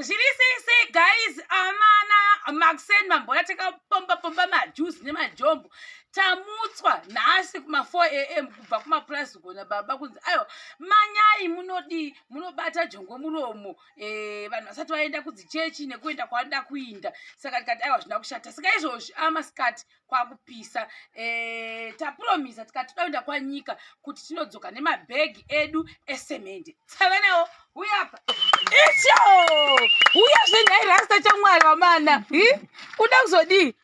zviri sese guys amana maxen mamboya takapomba pomba majuzi nemajombo tamutswa nhasi kuma4 am kubva kumapurazi kugona baba kunzi aiwa manyai munodii munobata jongo muromo eh, vanhu vasati vaenda kudzichechi nekuenda kwavanoda kuinda saka ndikati aiwa zvina kushata saka izvozvi amasikati ah, kwakupisa e, eh, tapromisa tikati toenda kwanyika kuti tinodzoka nemabhegi edu esemende tsavenewo huyapa icho huya zvenhairasta chamwari vamana kuda kuzodii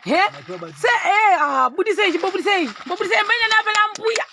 he se e eh, ah, budisei chimbobudisei mbobudisei mbainanaapela mbuya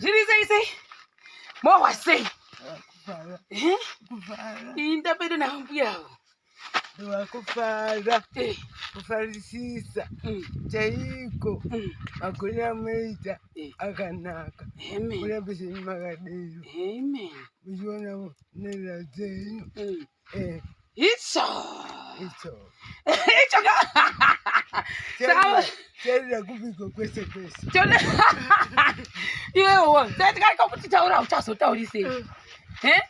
zviri sei sei mohwa sei inda pedo navo mbuya avo vakufara eh. kufarisisa mm. chaiko mm. magoni amoita eh. akanaka kurambiseni makadero muchiona nherera dzenyu mm. Eh. It's all. It's all. It's all. Tenda kupiko kwese kwese. Tenda. Iwe wo, tenda kaka kuti taura uchazotauri sei. Eh? eh?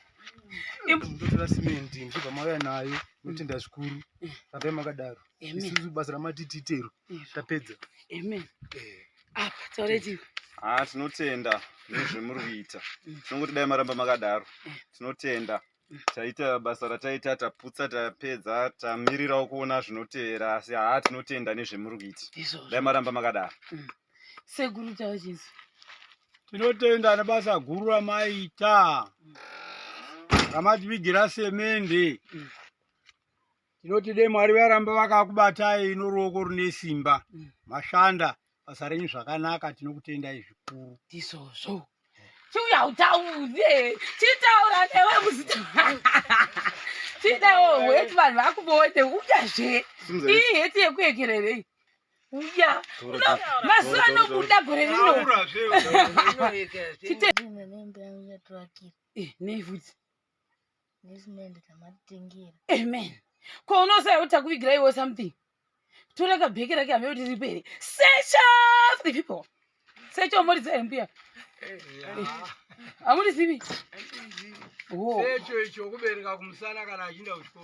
Ndotora cement ndibva mauya nayo notenda zvikuru. Tape makadaro. Isusu basa ramatititero. Tapedza. Amen. Eh. Apa ah, taureti. Ah, tinotenda nezvemuri kuita. Mm. Tinongoti dai maramba makadaro. Eh. Tinotenda. taita basa rataita taputsa tapedza tamirirawo kuona zvinotevera asi haa tinotenda nezvemuri kuita dai maramba makadaro mm. sekuru chavo chisu tinotenda nebasa guru ramaita mm. ramativigira semende mm. tinoti dai mwari varamba vakakubatai noruoko rune simba mm. mashanda basa renyu zvakanaka tinokutendai zvikuru ndizvozvo chiuya utaure chitaura newe muzita chidawo weti vanhu vakubote uyazve iyi heti yekuekererei uya mazuva anobuda gore rino nevhudzi amen ko unoziva kuti takuvigira iwe something toreka bheki rake hame kuti ripe here search of the people search of mori dzayo mbuya hamurizivi secho icho kubereka kumusana kana achinda kuchikoro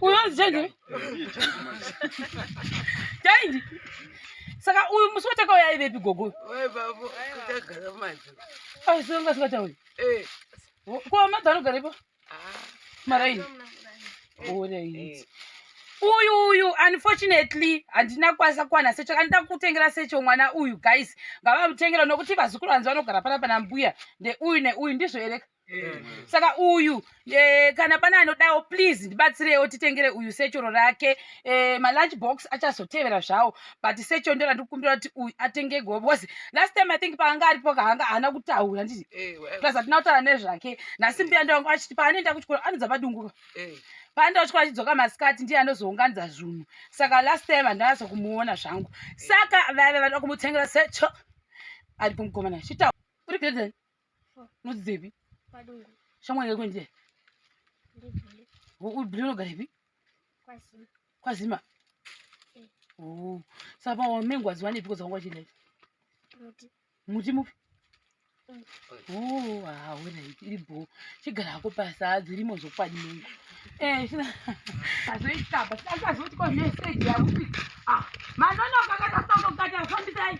Unonzi change? Change. Saka uyu musi watakauya aivepi gogo? Wai babo, kutagara madzo. Ai songa sikata uyu. Eh. Kwa madzo anogarepo? Ah. Maraini. Ora iyi. Uyu uyu unfortunately handina kwasa kwana secho kandida kutengera secho mwana uyu guys ngavamutengera nokuti vazukuru vanzi vanogara pana pana mbuya ndeuyu neuyu ndizvo ereka saka uyu e, kana pane anodawo please ndibatsirewo titengere uyu sechoro rake e, malunch box achazotevera zvawo but secho ndo randiri kukumbira kuti uyu atenge gobo because last time i think paanga aripo kaanga haana kutaura nditi plus hatina kutaura nezvake nhasi mbuya ndo vangu achiti paanoenda kuchikoro anodza padunguka panda uchikwa achidzoka masikati ndiye anozounganidza zvunhu saka last time handinazo kumuona zvangu saka vaive vanoda kumutsengera secho ari kumukomana chitaura uri bhedheni unodzidzepi padungu shamwari yako ndiye ndibhile ubhile unogarepi kwazima kwazima eh. oh. saka wamengo waziwanepi koza wanga wachidai muti muti mupi mm. oh, haona iri bho chigara hako pasa dzirimo zvokwadi mengo eh, azoitaba sikaazoti ko meseji yakuti ah, manonoka kakasaukakata fambisai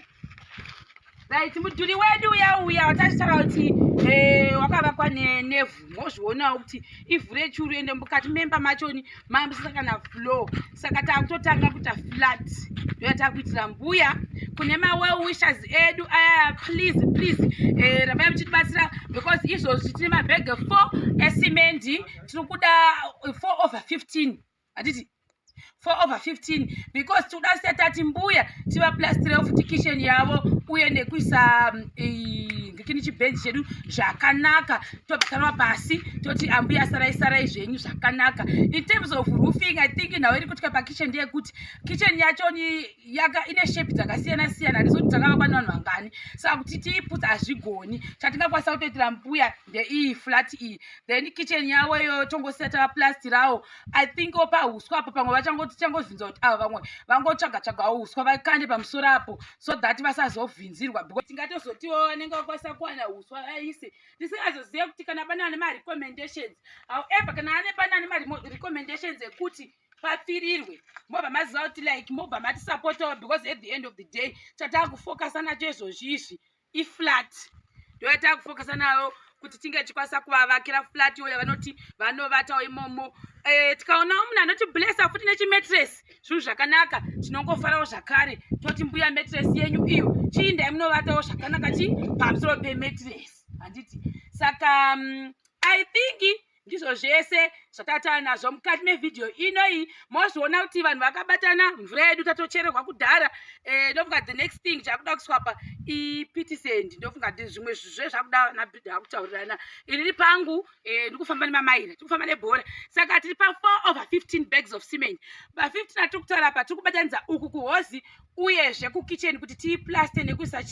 right mudhuri wedu uya uya watachitaura kuti eh, wakavakwa nevhu mozvionawo kuti ivhu rechuru ende mukati memba machoni mamusisa kana flow saka takutotanga kuita flat ndoya takuitira mbuya kune mawell wishers edu aya please please eh, ramai muchitibatsira because izvozvi tine mabhege four esimendi tiri kuda four over fifteen hatiti for over 15 because tikuda kusiya tati mbuya tivaplastire futi kitchen yavo uye nekuisa mm, ngekini chibhenji chedu zvakanaka tobva tarova pasi toti ambuya sarai sarai zvenyu zvakanaka in terms of roofing i think nhau iri kutika pakitchen ndeyekuti kitchen yacho ni yaka ine shape dzakasiyana siyana handizoti dzakavakwa nevanhu vangani saka kuti tiiputsa hazvigoni chatingakwanisa kutoitira mbuya ndeiyi flat iyi then kitchen yavo iyo tongosiya tavaplastirawo i think opa huswa apo pamwe vachangotichangovhinza kuti ava vamwe vangotsvaga tsvagawo huswa vakande pamusoro apo so that vasazovhinzirwa because tingatozotiwo vanenge vakwanisa kuwana huswa vaise tisingazozive kuti kana pane ane marecommendations however kana ane pane ane marecommendations ekuti papfirirwe mobva maziva kuti like mobva matisapotawo because at the end of the day chatakufocusa nacho izvozvi izvi iflat ndo yatava kufokasa nayo kuti tinge tichikwanisa kuvavakira flat iyo yavanoti vanovatawo imomo eh, tikaonawo munhu anoti blessa futi nechimetres zvinhu zvakanaka tinongofarawo zvakare toti mbuya metres yenyu iyo chiindai munovatawo zvakanaka chii pamusoro pemetres handiti saka mm, i think ndizvo zvese zvatatava nazvo mukati mevhidhiyo inoyi mozviona kuti vanhu vakabatana mvura yedu tatochererwa kudhara eh, ndofunga the next thing chakuda kuswapa ipitisend ndofunga ti zvimwe zve zvakuda nabrid akutaurirana inini pangu eh, ndikufamba nemamaira tikufamba nebhora saka tiri pa4 over 15 bags of cement pa 15 atiri kutaura pa tiri kubatanidza uku kuhozi uyezve kukitchen kuti tiiplaste nekuisa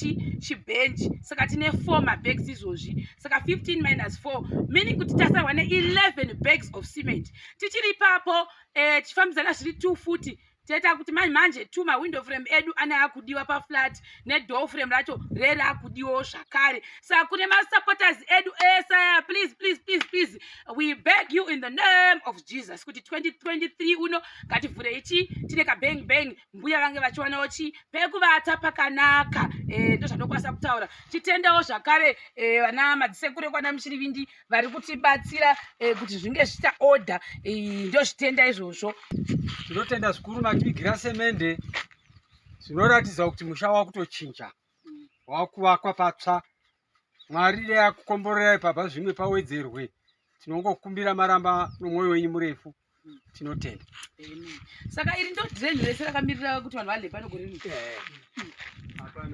chibench saka tine four mabags izvozvi saka 15 minus 4 meaning kuti tasarwa ne11 bags of cement tichiri ipapo eh, tichifambidzana zviri two futi taita kuti manje manje two mawindow frame edu ane akudiwa paflat nedoor frame racho rere akudiwawo zvakare saka kune masupporters edu ese aya please please please please we beg you in the name of jesus kuti 2023 uno ngativhurei chii tine kabang bang mbuya vange vachiwanawo chii pekuvata pakanaka eh, ndozvandokwanisa kutaura titendawo zvakare eh, vana e, madzisekuru ekwana muchirivindi vari kutibatsira e, kuti zvinge zviita order e, ndozvitenda izvozvo ndinotenda zvikuru mativigira semende zvinoratidza kuti musha wakutochinja wakuvakwa patsva mwari reyakukomborera ipabva zvimwe pawedzerwe tinongokumbira maramba nomwoyo wenyu murefu tinotenda saka iri ndo drain rese rakamirira kuti vanhu vale pano gore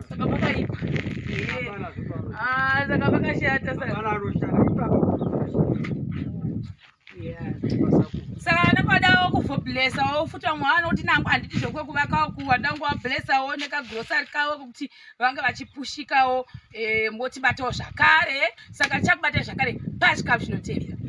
saka pakaipa ah, saka pakashata saka anokwadawo kufoblessawo futi vamwe vanoti nangu handiti zvokwekuvakawo kuwa ndangu wablessawo nekagrosari kavo kuti vange vachipushikawo eh, motibatawo zvakare saka chakubatai zvakare pachikafu chinotevera